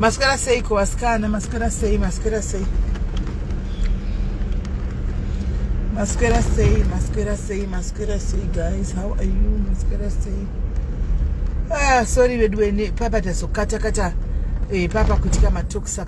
Mascara sei com as canas, mascara sei, mascara sei. Mascara sei, mascara sei, mascara sei, guys. How are you? Mascara sei. Ah, sorry, weduwe, papa tazokata kata. Eh, papa kutika matoksa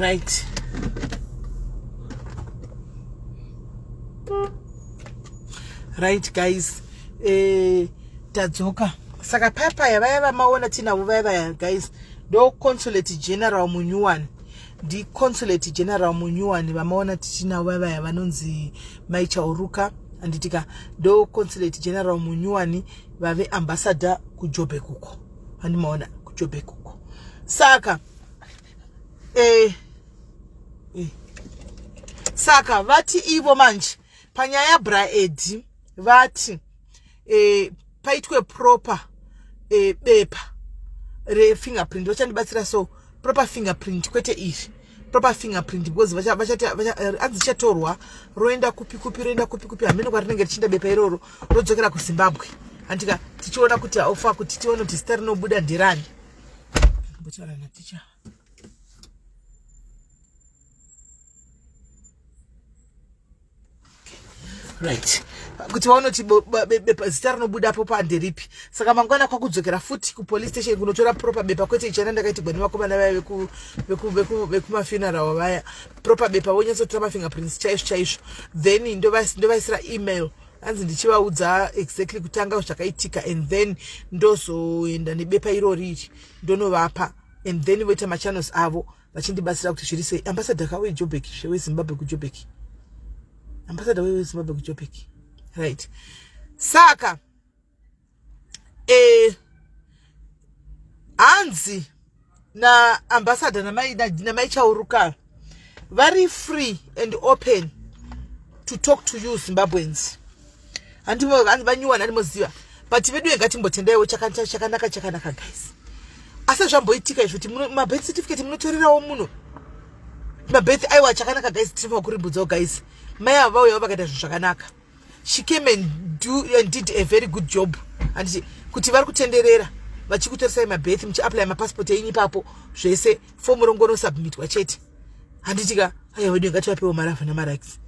right right guys eh, tadzoka saka papaya vaya vamaona tinavo vaya vaya guys ndoconsulate general munyuwani ndiconsulate general munyuwani vamaona tichinavo vavaya vanonzi maichauruka handitika ndo consulate general munyuwani vave ambassador kujobek uko handimaona kujobek uko saka eh, eh. saka vati ivo manje panyaya yabraedi vati e, paitwe proper e, bepa refingerprint vachandibatsira so proper fingerprint kwete iri proper fingerprint because hanzi chatorwa roenda kupi kupi roenda kupi kupi hameno kwarinenge richinda bepa iroro rodzokera kuzimbabwe handika tichiona kuti haufa kuti tione kuti zita rinobuda ndirani right kuti vaonoti bepa zita rinobudapo panderipi saka mangwana kwakudzokera futi kupolice station kunotora proper bepa kwete ichana ndakaitigwa nevakomana vaya vekumafuneral vaya proper bepa vonyatsotora mafingerprints chaizvo chaizvo then ndovaisira email hanzi ndichivaudza exactly kutanga zvakaitika and then ndozoenda nebepa iroriri ndonovapa and then voita machannels avo vachindibatsira kuti zviri sei ambassador ka wejobek zve wezimbabwe kujobek ambassador wezimbabwe kujobek right saka eh, hanzi naambassador namai chauruka vari free and open to talk to you zimbabweans handivanyuwani animoziva but vedu ye ngatimbotendaiwo chakanaka chakanaka chakanaka guys asi zvamboitika izvo kuti mabirth certificate munotorerawo muno mabirth aiwa chakanaka guys tiri pakuribudzawo guys mai ava vauyawo vakaita zvinhu zvakanaka she came and, do, and did a very good job anditi kuti vari kutenderera vachikutoresai mabirth muchiaplya mapassport enyu ipapo zvese fomu rongonosubmitwa chete handitika aya wedu ingativapewo mari avana maraks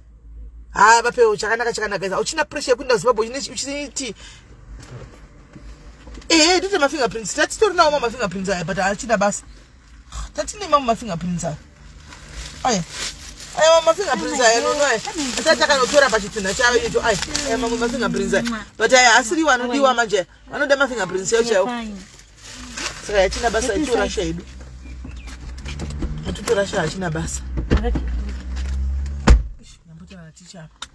ha vapewo chakanaka chakanaka is auchina pressure yekuinda zimbabwe uchiti ehe ndite mafingerprints tatitorinawo mamafingerprints aya but achina basa Tatine mama mafingerprints aya. Aya. Aya mama mafingerprints aya no no. Ata takanotora pa chitsinha chayo icho aya. Aya mama mafingerprints aya. But aya asiri wanodiwa manje. Anoda mafingerprints yacho chayo. Saka yachina basa icho rasha yedu. Atutora sha achina basa. Ndambotora ticha.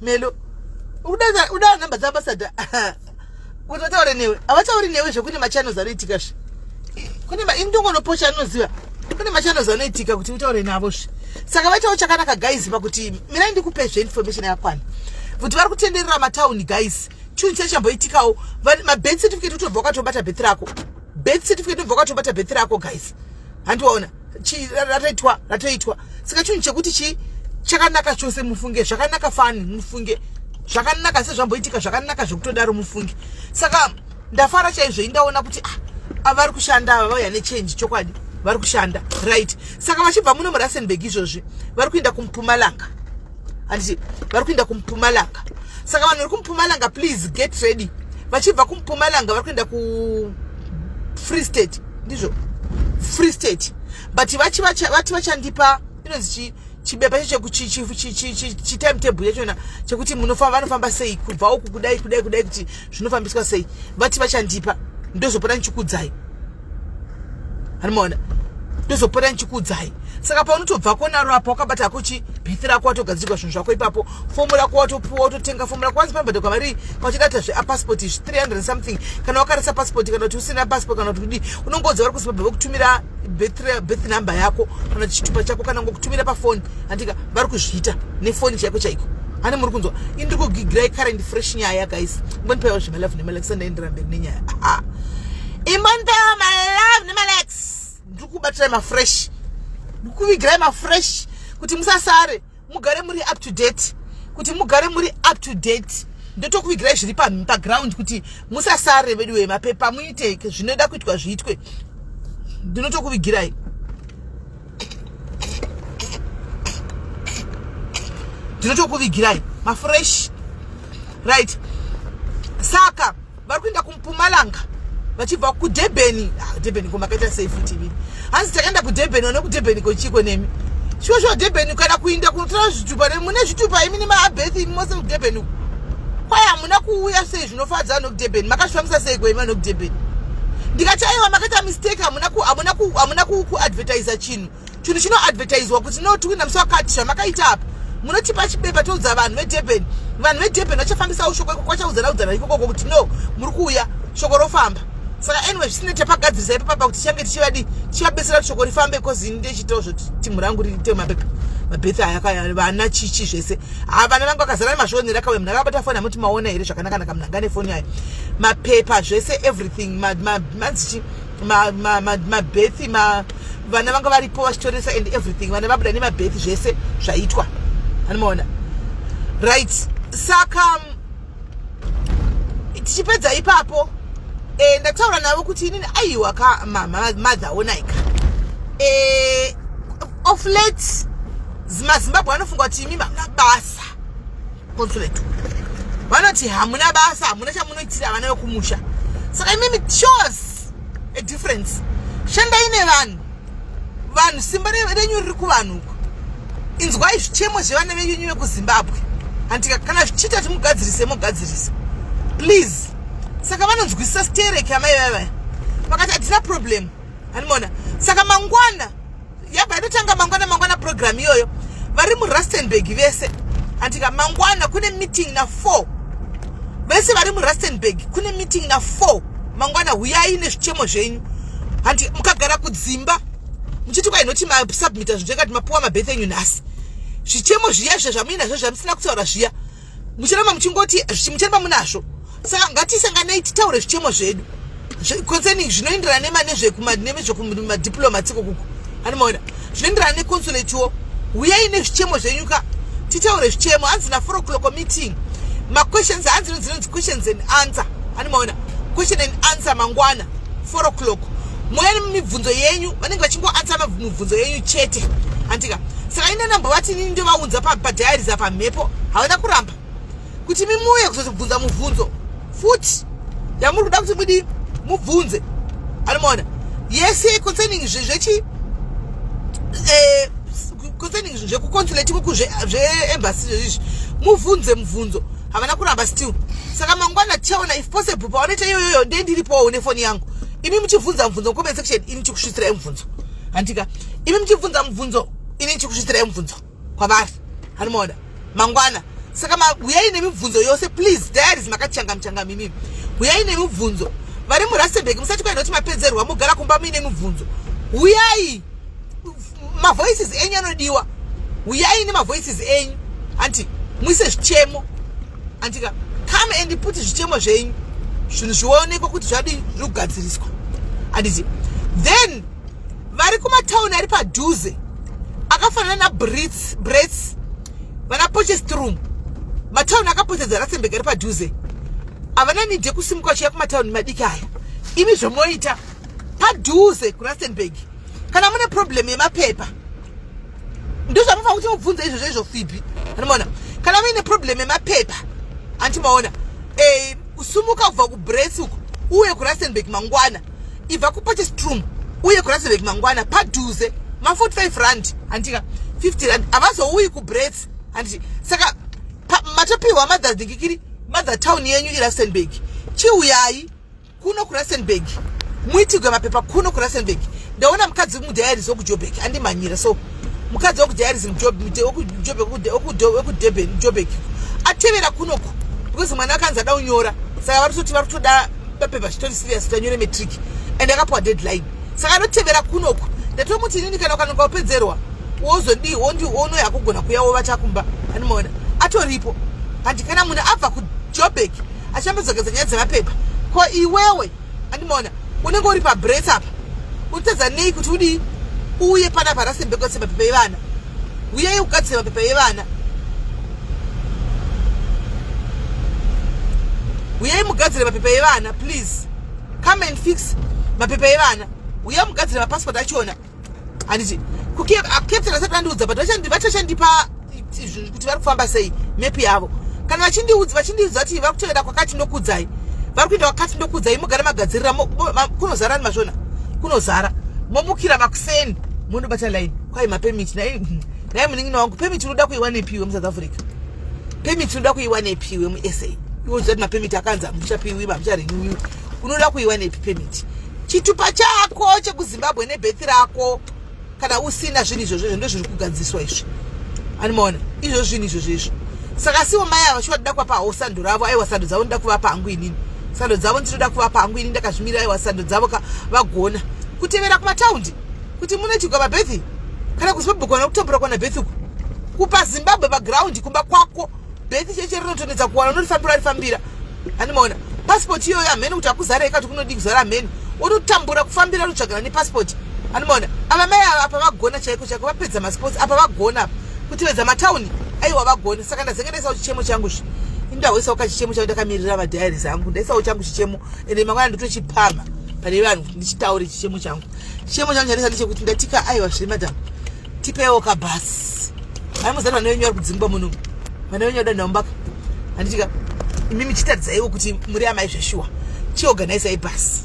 melo udaa number dzaambasada kuti vataure newe havatauri newe zvekune machannels anoitika zve kune indongonopocha anoziva kune machannels anoitika kuti utaure navo zve saka vaitawo chakanaka guys pakuti mirai ndikupe zve information yakakwana kuti vari kutenderera matauni guys chunhu chai chamboitikawo mabeth certificate utobva wakatobata beth rako beth certificate utobva wakatobata beth rako guys handiwaona ratoitwa ratoitwa saka chinhu chekuti chii chakanaka chose mufunge zvakanaka fani mufunge zvakanaka sezvamboitika zvakanaka zvekutodaro mufunge saka ndafara chaizvo indaona kuti ah, avari kushanda ava vauya nechange chokwadi vari kushanda right saka vachibva muno murasenburg izvozvi vari kuenda kumpumalanga handiti vari kuenda kumupumalanga saka vanhu vari kumupumalanga please get ready vachibva kumupumalanga vari kuenda kufree state ndizvo free state but vati vachandipa inonzi chii chibepa chetimetable yachona chekuti munofamba vanofamba sei kubva uku kudai kudai kudai kuti zvinofambiswa sei vati vachandipa ndozopota ndichikudzai anomaona ndozopota ndichikuudzai saka paunotobva konaro apa wakabata hako chi bithi rako watogadzirwa zvinhu zvako ipapo fomu rako watopuwa watotenga fomu rako wanzi panobhadhakwa mari kwachidata zveapaspoti izvi 300 something kana wakarisa paspoti kana kuti usina paspoti kana kuti kudii unongoudza vari kuzimbabwe vokutumira birth number yako kana chitupa chako kana ngokutumira pafoni andika vari kuzviita nefoni chaiko chaiko hane muri kunzwa ini ndiri kugigirai current fresh nyaya guys mbonipaiwa zvemalove nemalakisa ndaenderamberi nenyaya aha imondewa malove nemalex ndiri kubatirai mafresh ndiri kuvigirai mafresh kuti musasare mugare muri up to date kuti mugare muri up to date ndotokuvigirai zviri paground kuti musasare vedu we mapepa muite zvinoda kuitwa zviitwe ndinotokuvigirai ndinotokuvigirai mafresh right saka vari kuenda kumupumalanga vachibva kudebeni ah, debeni ko makaita sei futi vii hanzi takaenda kudebeni one kudebeni ko chiko nemi shuwa shuwa debeni kana kuinda kunotora zvitupa ne mune zvitupa imi nemaabethi imi mose kudebeni uku kwaye hamuna kuuya sei zvinofadza ano kudebeni makazvifambisa sei kwaimi ano kudebeni ndikati aiwa makaita mistake hamuna kuadvertisa chinhu chinhu chinoadvertiswa kuti no tiwina musi wakati zvamakaita apa munotipa chipepa toudza vanhu vedurban vanhu vedurban vachafambisawo shoko ikoko vachaudzanaudzana ikokoko kuti no muri kuuya shoko rofamba saka anyway zvisine tapagadzirisa ipo papa kuti change tichivadi tichivabetsera kuti shoko rifambe bcause ini ndechitawo zvoti timhu rangu riite mapepa mabethe aya kaya vana chichi zvese ha vana vangu vakazara nemazvionera kawe munhu akabata foni amuti maona here zvakanakanaka munhu anga nefoni ayo mapepa zvese everything manzichi ma, ma, mabethi ma, ma, vana vanga varipo vachitoresa and everything vana vabuda nemabethi zvese zvaitwa anomaona right saka tichipedza ipapo e, ndataura navo kuti inini aiwa ka mother onaika e, eh, of late mazimbabwe anofunga kuti imi mamna basa Consulate vanoti hamuna basa hamuna chamunoitira vana vekumusha saka imimi shows a difference shandai nevanhu vanhu simba renyu riri kuvanhu uko inzwai zvichemo zvevana venyu vekuzimbabwe handika kana zvichiita kuti mugadzirise mogadzirisa please saka vanonzwisisa stereki amai vavaya vakati hatina problem hanimona saka mangwana yabva inotanga mangwana mangwana program iyoyo vari murustenburg vese andika mangwana kune meeting na four vese vari murustenburg kune meeting na four mangwana huyai nezvichemo zvenyu handi mukagara kudzimba muchiti kwainoti masubmita zvinhu zvekati mapuwa mabeth enyu nhasi zvichemo zviya zviya zvamuinazvo zvamusina kutaura zviya muchiramba muchingoti muchiramba munazvo saka ngatisanganei titaure zvichemo zvedu concerning zvinoenderana nema nezvekumadiplomatico kuku anomaona zvinoenderana neconsulatiwo huyai nezvichemo zvenyuka titaure zvichemo hanzi na four o'clock meeting maquestions hanzi nodzinonzi questions and answer anomaona question and answer mangwana 4 o'clock mune mibvunzo yenyu vanenge vachingoansa mibvunzo yenyu chete andika saka ine namba vati inini ndovaunza padiaries apa mhepo havana kuramba kuti mimuye kuzotibvunza mubvunzo futi yamuri kuda kuti mudi mubvunze anomaona yese concerning zvechi eh, concerning zvekuconsulate kuku zveembassy zvezvizvi mubvunze mubvunzo havana kuramba still saka mangwana tichaona if possible pavanoita iyoyoyo ndee ndiripowo une foni yangu imi muchibvunza mubvunzo mucomment section ini chikusvitsira imubvunzo handika imi muchibvunza mubvunzo ini chikusvitsira imubvunzo kwavari hanimaona mangwana saka huyai nemibvunzo yose please diaries makachanga muchanga mimi huyai nemibvunzo vari murastenburg musati kwainoti mapedzerwa mogara kumba muine mibvunzo huyai Oof. mavoices enyu anodiwa huyai nemavoices enyu anti muise zvichemo antika come and put zvichemo zvenyu zvinhu zvionekwa kuti zvadii zviri kugadziriswa anditi then vari kumatauni ari padhuze akafanana nabrits brets vana pochestrum matauni akapotedzo anasembeka ari padhuze havana nidhi yekusimuka vachiya kumatauni madiki aya imi zvomoita padhuze kurustenburg kana mune problem yemapepa ndozvamufanira kuti mubvunze izvo zvezvo fibi anomaona kana muine problem yemapepa anti maona eh, sumuka kubva kubrets uko uye kurasenburg mangwana ibva kupotestrum uye kurasenburg mangwana padhuze ma45 rand andika 50 rand havazouyi kubrets anditi saka matopiwa mother dhingikiri mother town yenyu irasenburg chiuyai kuno kurustenburg muitigwe mapepa kuno kurustenburg ndaona mukadzi wekumudiaries wekujobek andimhanyira so mukadzi wekudiaries wekudurbanjobek atevera kunoku because mwana akanzi ada unyora saka vari kutoti vari kutoda mapepa zvitori serious kuti anyore matric and akapuwa deadline saka anotevera kunoku ndatomuti inini kana ukanoka upedzerwa wozodii wondi wono yakugona kuya wovata kumba animoona atoripo handi kana munhu abva kujobek achambozogeza nyaya dzemapepa ko iwewe andimaona unenge uri pabres apa unotadza nei kuti udii uye pana parasembekose mapepa evana uyei kugadzira mapepa evana uyei mugadzire mapepa evana please come and fix mapepa evana uyei mugadzire mapassport achona handiti captain vasati vandiudza but vachachandipa kuti vari kufamba sei mepi yavo kana vachindiudza vachindiudza kuti vari kutoenda kwakati ndokudzai vari kuenda kwakati ndokudzai mugare magadzirira kunozara ni masvona kunozara momukira makuseni monobata line kwai mapemiti nai hmm, nai munin'ina wangu pemiti unoda kuiwanepiwe musouth africa pemiti unoda kuiwanepiwe musa iwoziva kuti mapemiti akanzi hamuchapiwi hamucharenewiwi unoda kuiwanepi pemiti chitupa chako chekuzimbabwe nebhethi rako kana usina zvinhu izvozvo izvo ndozviri kugadziswa izvi animoona izvo zvinhu izvozvo izvo saka siwo mai ava shuwa toda kuvapa hao sando ravo aiwa sando dzavo ndoda kuvapa hangu inini sando dzavo ndinoda kuvapa hangu inini ndakazvimirira aiwa sando dzavo ka vagona kutevera kumataundi kuti munoitigwa mabhethi kana kuzimbabwe kana kutombora kwana bhethi uku kupa zimbabwe pagraundi kumba kwako Beth cheche rinotonetsa kuwana unorifambira rifambira. Andimaona. Passport iyoyo hamheni kuti akuzara ikati kunodii kuzara hamheni. Unotambura kufambira unotsvagana nepassport. Andimaona. Ava mai ava apa vagona chaiko chaiko vapedza masports apa vagona apa. Kutivedza matauni aiwa vagona saka ndazenge ndaisa chichemo changu zvi. Indahoisa uka chichemo changu ndakamirira va diaries angu. Ndaisa uchangu chichemo ende mangwana ndotochipama. Pane vanhu ndichitaure chichemo changu. Chichemo changu chandaisa ndechekuti ndatika aiwa zviri madam. tipewo ka bus hai muzani vana venyu vari kudzingwa muno vana venyu vadanha umbaka handitika imi michitaridzaiwo kuti muri amai zveshuwa chiorganize ibus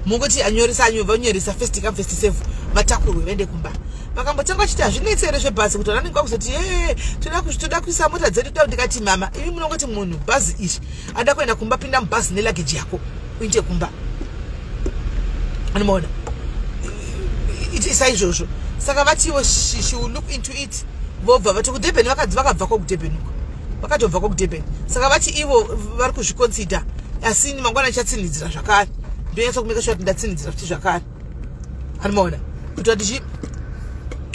mungoti anyoresa anyo vanyoresa first come first save vatakurwe vaende kumba vakambotanga vachiti hazvinetsi here zvebhazi kuti vananenge vakuzoti ee toda kuisa mota dzedu toda ndikati mama imi munongoti munhu bhazi izvi ada kuenda kumba pinda mubhazi nelageji yako uite kumba anomaona itisa izvozvo saka vatiwo she, she will look into it vobva vati kudurban vakadzi vakabva kwakudurban uko vakatobva kwakudurban saka vati ivo vari kuzviconsider asi mangwana ichatsinhidzira zvakare ndonyatsa kumeka shuwa kuti ndatsinhidzira futi zvakare anomaona kuitira kuti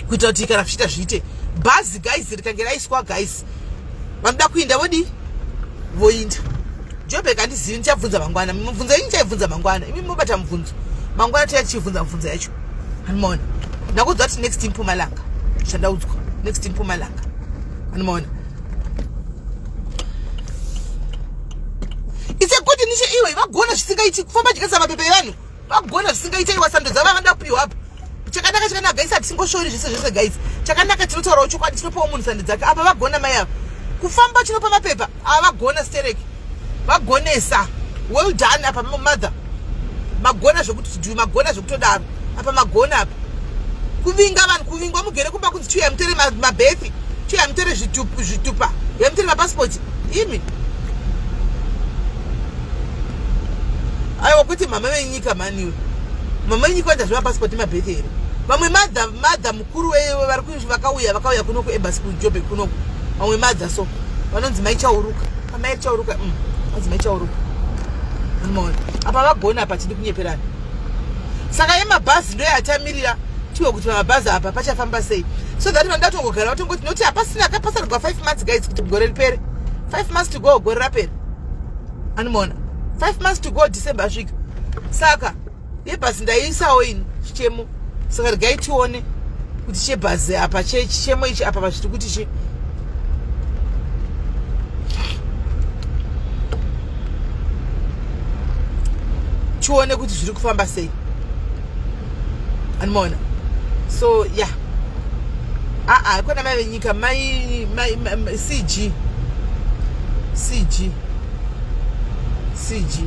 kuitira kuti kana zvichiita zviite bhazi guys rikange raiswa guys vanoda kuinda vodii voinda jobek handizivi ndichabvunza mangwana mibvunzo inyi chaibvunza mangwana imi mobata mubvunzo mangwana tiya tichibvunza mubvunzo yacho anomaona ndakuudzwa kuti next mpumalanga zvandaudzwa next mpumalanga anomaona ise kuti nishe iwe vagona zvisingaiti kufamba chikasa mapepa evanhu vagona zvisingaita iwa sando dzava vada kupiwa apa chakanaka chakanaka gaisa tisingoshori zvese zvese guys chakanaka tinotaurawo chokwadi tinopawo munhu sando dzake apa vagona mai ava kufamba chinopa mapepa ava vagona stereki vagonesa well done apa mother magona zvekuti chiduyu magona zvekutodaro apa magona apa kuvinga vanhu kuvingwa mugere kumba kunzi chiuya mutere mabefi chiuya mutere zvitupa yamutere mapasipoti imi aiwa kuti mama venyika maniwe mama venyika vandazviva passport mabhethe here vamwe madha madha mukuru wevari kuizvi vakauya vakauya kuno kuebasi kujobe kunoku vamwe madha so vanonzi maichauruka amai chauruka mm, vanonzi maichauruka apa vagona apa tidi kunyeperana saka yemabhazi ndo yatamirira tiwe kuti pamabhazi apa pachafamba sei so that vanoda tongogara vatongoti noti hapasina kapasarigwa five months guys kuti gore ripere five months to go gore rapere animoona five months to go december asvika saka yebhazi ndaiisawo ini chichemo saka regai tione kuti chebhazi apa chemo ichi apa vachiti kuti chi tione kuti zviri kufamba sei animoona so ya yeah. aa ah, ah, kona mai venyika mai cg cg cg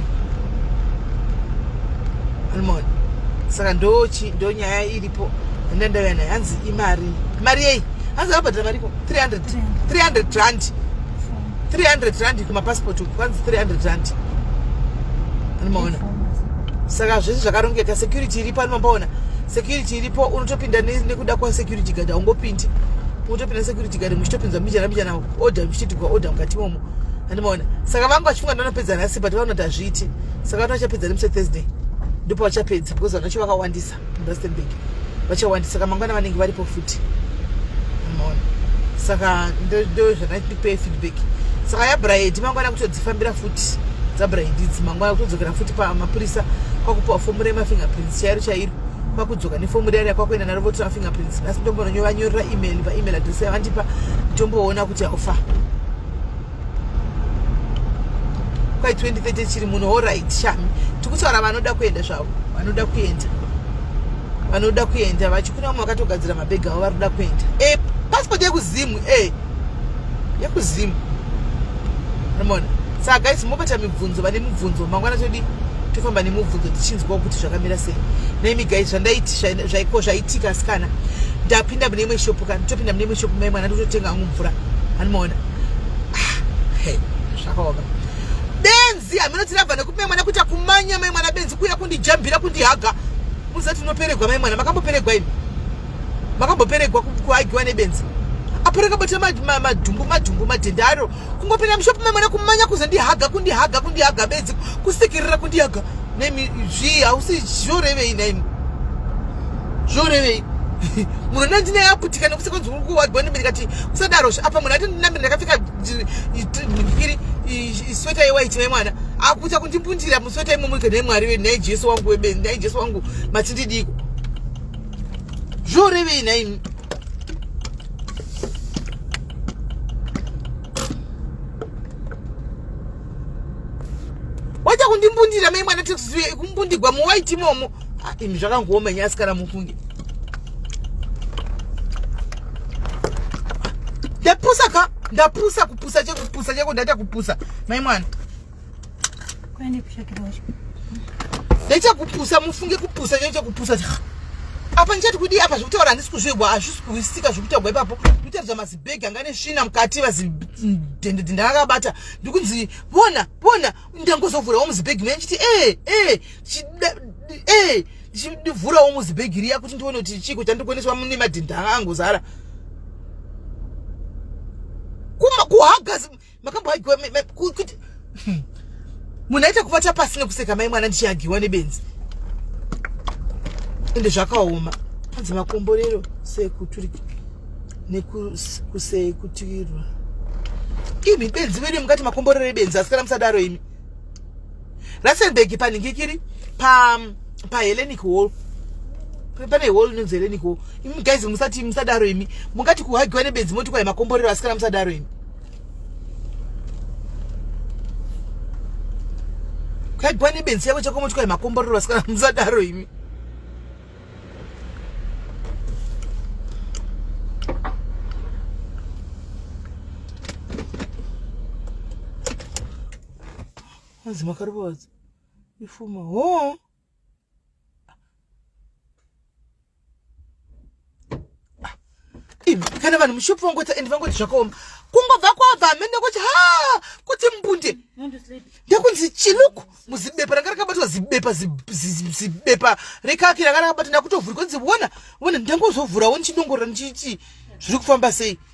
almon saka ndochi ndonyaya iripo enda ndauya nayo hanzi imari mari yei hanzi akabhadhira mariko 300 300 rand 300 rand kumapassport uku kwanzi 300 rand anomaona saka zvese zvakarongeka security iripo anomambaona security iripo unotopinda nekuda kwasecurity gad aungopindi unotopinda security gad muchitopinzwa mbichana mbichana order muchititigwa order mukati momo andimaona saka vangu vachifunga ndanopedza nhasi but vanoti hazviiti saka vati vachapedza nemse thursday ndipo vachapedza because vanacho vakawandisa murustenburg vachawandisa saka mangwana vanenge varipo futi andimaona saka ndo zvandipe feedback saka yabrahedi mangwana kutodzifambira futi dzabrahedi idzi mangwana kutodzokera futi pamapurisa kwakupiwa fomu remafingerprints chairo chairo kwakudzoka nefomu riya riakwakuenda naro votora fingerprints asi ndombononyovanyorera email paemail adress yavandipa ndomboona kuti haufa kwai 2030 chiri muno orit shami tikutaura vanoda kuenda zvavo vanoda kuenda vanoda kuenda vachikuna vamwe vakatogadzira mabhegi avo varikuda kuenda e passport yekuzimu e yekuzimu mona saka guys mobata mibvunzo vane mibvunzo mangwana todii tofamba nemubvunzo tichinzwa kuti zvakamira sei nemi guys zvandaiiko zvaitika asikana ndapinda mune imwe shopu kana topinda mune imwe shopu mai mwana ndototenga hangu mvura hanimaona ah, zvakaoma benzi haminoti rabva nekuti mai mwana kuita kumanya mai mwana benzi kuuya kundijambira kundihaga muzati unoperegwa mai mwana makamboperegwa imi makamboperegwa kuhagiwa nebenzi apo rakabata madhumbu madhumbu madhende aro kungopinda mushopu memwana kumanya kuzondihaga kundihaga kundihaga bedzi kusikirira kundihaga nemi zvii hausi zvorevei naimi zvorevei munhu nda ndine yaputika nekuti kwanzi uri kuwadwa nemi ndikati kusadaro apa munhu ati ndinamiri ndakapfeka iri isweta yewaiti nemwana akuita kundimbundira musweta imomo ndikati nhai mwari wenhai jesu wangu webenzi nhai jesu wangu matindidiko zvuri vine imi waita kundimbundira mai mwana tekuziviya ikumbundigwa muwaiti imomo ah, imi zvakangooma nyasi kana mufunge ndapusa ka ndapusa kupusa chekupusa cheko ndaita kupusa mai mwana nechakupusa mufunge kupusa chao chakupusa cha apa ndichati kudii apa zvekutaura handisi kuzvigwa hazvisi kuisika zvekutagwa ipapo nditaridza mazibhegi anga ane svina mukati vazidhendedhe ndakakabata ndikunzi vona vona ndangozovhurawo muzibhegi mea ndichiti ee ee ee ndichivhurawo muzibhegi riya kuti ndione kuti chiko chandikoneswa mune madhendha anga angozara kuhagazi makamboagiwa kuti hmm. munhu aita kuvata pasi nekuseka mai mwana ndichiagiwa nebenzi ende zvakaoma hanzi makomborero sekuturika nekusekutirwa imi benzi vedi mungati makomborero ebenzi asikana musadaro imi rustenburg paningikiri pa pahellenic hall pane hall inonzi hellenic hall imi guys musati musadaro imi mungati kuhagiwa nebenzi moti kwai makomborero asikana musadaro imi kaibwa nebenzi yavo chakomotyoya makomborero vasikana musadaro imi hanzi makarovaza ifuma hoo kana vanhu mushopu vangoti and vangoti zvakaoma kungobva kwabva hamene kuti ha kuti mbunde ndekunzi chiluku muzibepa ranga rakabatwa zibepa zibepa rekaki ranga rakabatwa ndakutovhura kunzi wona wona ndangozovhurawo ndichinongorora ndichiiti zviri kufamba sei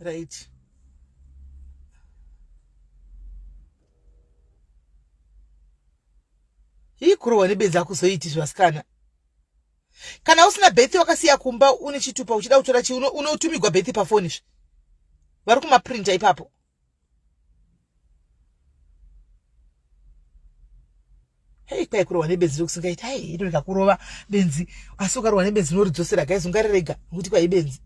right hii kurohwa nebedzi akuzoiitizve vasikana kana usina bethi wakasiya kumba une chitupa uchida kutora chi unotumigwa bethi pafoni zve vari kumaprinta ipapo hei kwai kurohwa nebenzi rekusingaiti hai ino rikakurova benzi asi ukarohwa nebenzi unoridzosera gaizi ungarirega nokuti kwai benzi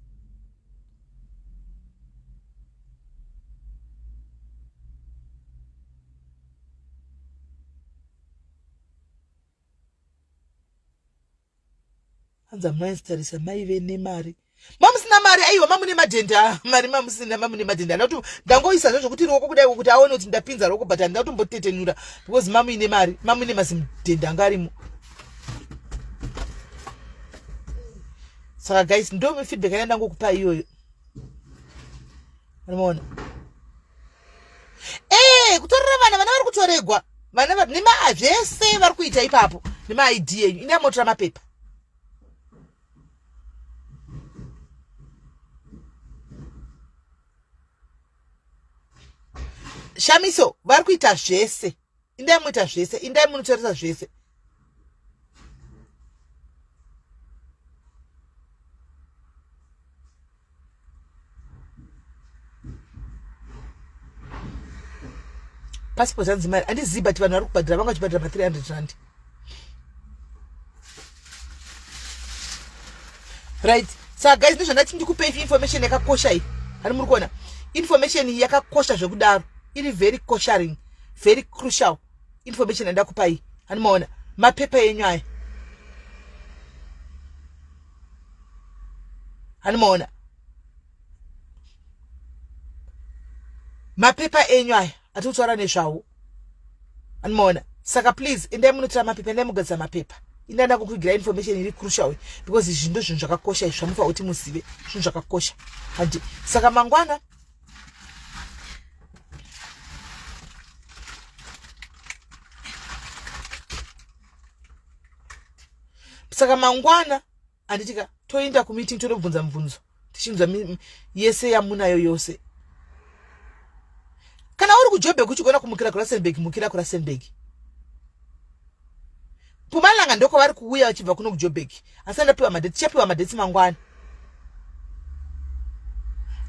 hanza maizi tarisa maive nemari mamusina mari aiwa mamune madhenda mari mamusina mamune madhenda ana kuti ndangoisa zvo zvokuti ruoko kudai kuti aone kuti ndapinza ruoko but handina kutombotetenura because mamuine mari mamune mazimudhenda anga arimo saka guys ndo feedback yanda ndangokupa iyoyo Unoona? Eh, kutorera vana vana vari kutoregwa. Vana vari nema zvese vari kuita ipapo. Nema ID yenyu. Ina motora mapepa. Shamiso vari kuita zvese. indai muita zvese indai munotarisa zvese passport hanzi mari handizivi but vanhu vari kubhadhira vanga vachibhadhira ma 300 randi right saka guys ndozvandati ndikupei information yakakosha iyi hani muri kuona information iyi yakakosha zvekudaro iri very kosharing very crucial information yandakupai hani maona mapepa enyu aya hani maona mapepa enyu aya atiri kutaura nezvawo anomaona saka please endai munotora mapepa endai mugadzira mapepa ina nda kukugira information iri crucial because izvi ndo zvinhu zvakakosha izvi zvamufa kuti muzive zvinhu zvakakosha handi saka mangwana saka mangwana handiti ka toenda kumeeting totobvunza mubvunzo tichinzwa yese yamunayo yose kana uri kujobhek uchigona kumukira kurasenbeg mukira kurasenbeg pumalanga ndoko vari kuuya vachibva kuno kujobhek asi andapiwa madheti tichapiwa madheti mangwana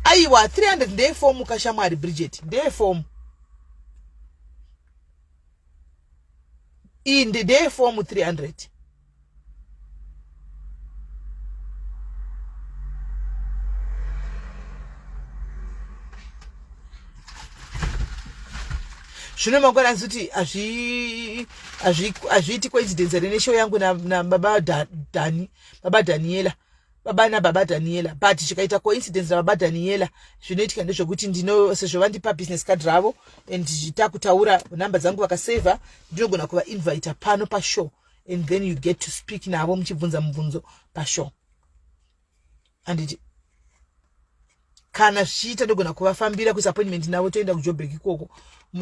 aiwa 300 ndeye fomu kashamwari bridget ndeye fomu iyi ndeye fomu 300 zvino mangwana asi kuti hazviiti coincidence here neshow yangu nababa dhani baba dhaniela baba nababa dhaniela but zvikaita coincidence nababa dhaniela zvinoitika ndezvekuti ndino sezvo vandipa business card ravo and takutaura nhamba dzangu vakasavha ndinogona kuvainvita pano pashow and then you get to speak navo muchibvunza mubvunzo pashow anditi kana zvichiita ndogona kuvafambira kuisa appointment navo toenda kujobek ikoko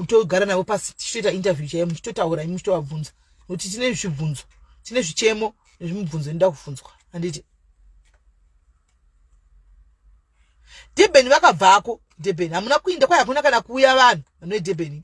togara navo pasi tichitoita interview chaiyo muchitotaura imi muchitovabvunza nokuti tine zvibvunzo tine zvichemo nezvimubvunzo inoda kufunzwa anditi debeni vakabvako debeni hamuna kuinda kwai hakuna kana kuuya vanhu vanoedebeni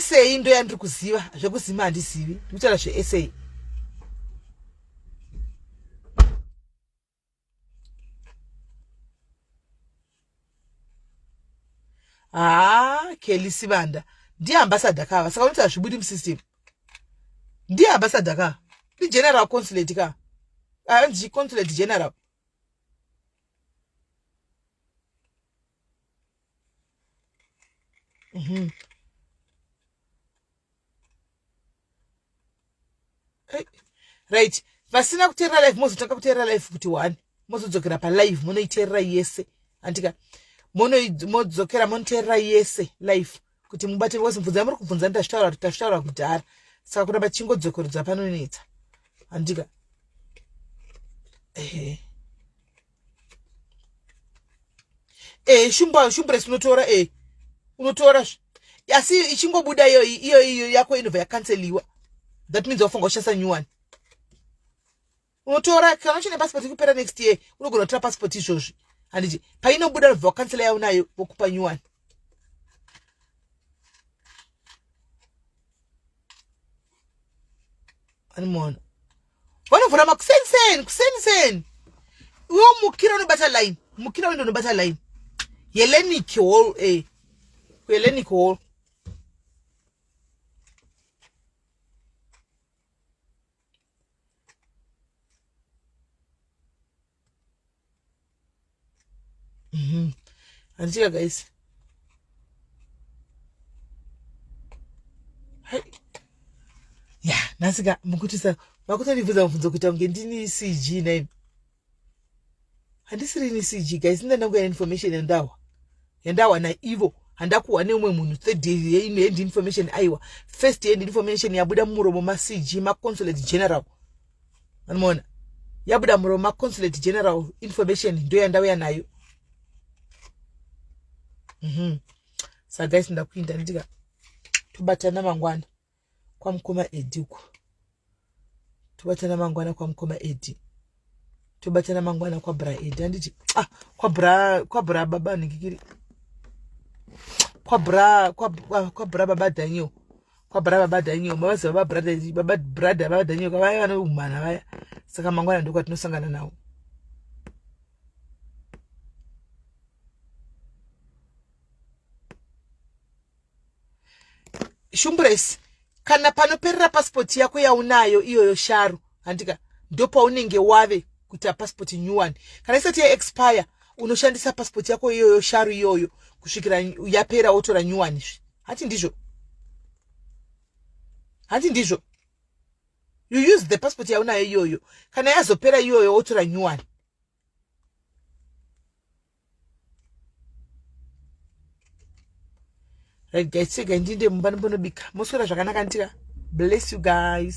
sa ndo yandiri kuziva zvekuzima handizivi ndikutaura zvesa haa kelly sivanda ndiye ambasada kava saka unoti hazvibudi musystem ndiye ambasada ka igeneral consulate ka anzi consulate general Mhm. Eh, right vasina kuteerera live mozotanga kuteerera live kuti one mozodzokera palive monoiteerera yese andika mono- modzokera monoteerera yese live kuti mubate wese mubvunza muri kubvunza ndazvitaura kuti tazvitaura kudhara saka kuramba tichingodzokorodza panonetsa andika ehe eh shumba shumbress unotora eh unotora asi ichingobuda iyo iyo iyo yako inobva yakanseliwa that means wafunga uchasa new one unotora kana uchine passport ikupera next year unogona kutora passport izvozvi handiti painobuda unobva wakansela yaunayo vokupa new one vanimona vanovhura makuseniseni kuseniseni iwe mukira unobata line mukira wende unobata line yelenic hall e eh. yelenic hall handitika guys ya nhasika mukutisa makutondibvunza mubvunzo kuita kunge ndini cg naini handisiri ini cg guys ndandanguya information yandawa yandawa naivo handakuhwa neumwe munhu third yeino hand information aiwa first hand information yabuda mumuromo macg maconsulate general anomaona yabuda muroma consulate general information ndo yandauya nayo mhm. sa guys ndakuinda nditika tobatana mangwana kwamukoma edi uko tobatana mangwana kwamukoma edi tobatana mangwana kwabra edi handiti ah, kwabra kwabra baba ningikiri kwabra kwabra baba daniel kwabra baba daniel mavazi baba brother baba brother baba daniel vaya vane umhana vaya saka mangwana ndiko atinosangana nawo shumbres kana panoperera pasipoti yako yaunayo iyoyo sharo handika ndopaunenge wave kuita passport new one kana isati yaexpire unoshandisa passport yako iyoyo sharu iyoyo kusvikira yapera wotora new one izvi hati ndizvo hati ndizvo you use the passport yaunayo iyoyo kana yazopera iyoyo wotora new one right guys segai ndinde mumba ndimbonobika moswera zvakanaka ndika bless you guys